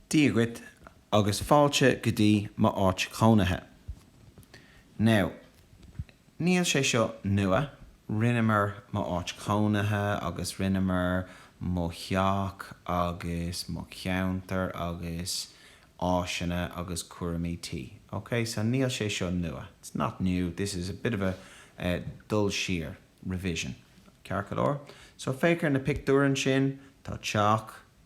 Dia dhuit agus fáilte go dtí m'áit chónaithe. Now, níl sé seo nua, rinneamar m'áit chónaithe agus rinneamar mo theach agus mo cheantar agus áiseanna agus cúraimí tí, ok? So níl sé seo nua, it's not new, this is a bit of a dul siar, revision, ceart go leor? So féach ar na pictiúir ansin, tá teach,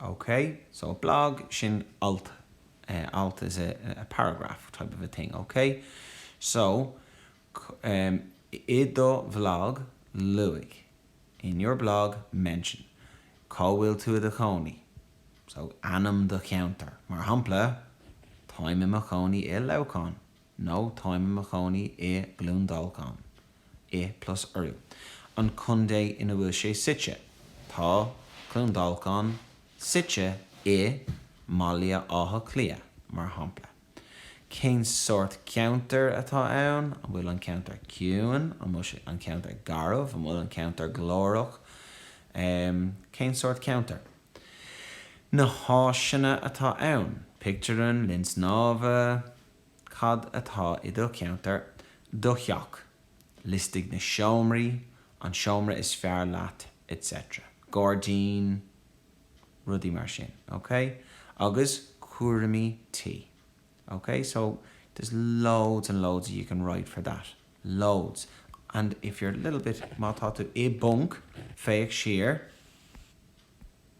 OK, so a blog, sin alt, alt is a a paragraph type of a thing, OK. So, i do bhlog, luaigh, in your blog, mention, cá bhfuil tú i do chónaí, so ainm do cheantar, mar shampla, táim i mo chónaí i Leamhcán, nó táim i mo chónaí i gCluain Dolcáin, i, plus urú, an contae ina bhfuil sé suite, tá Cluain Dolcáin suite i mBaile Átha Cliath, mar shampla. Cén sórt ceantair atá ann? An bhfuil an ceantar ciúin? An bhfuil sé, an ceantar, garbh? An bhfuil an ceantar glórach? Cén sórt ceantair? Na háiseanna atá ann, pictiúrlann, linn snámha, cad atá i do cheantar, do theach, liostaigh na seomraí, an seomra is fearr leat etc. gairdín, rudaí mar sin, ok? agus cúraimí tí, ok? So, there's loads and loads you can write for that, loads and if you're a little bit, má tá tú i bponc, féach siar,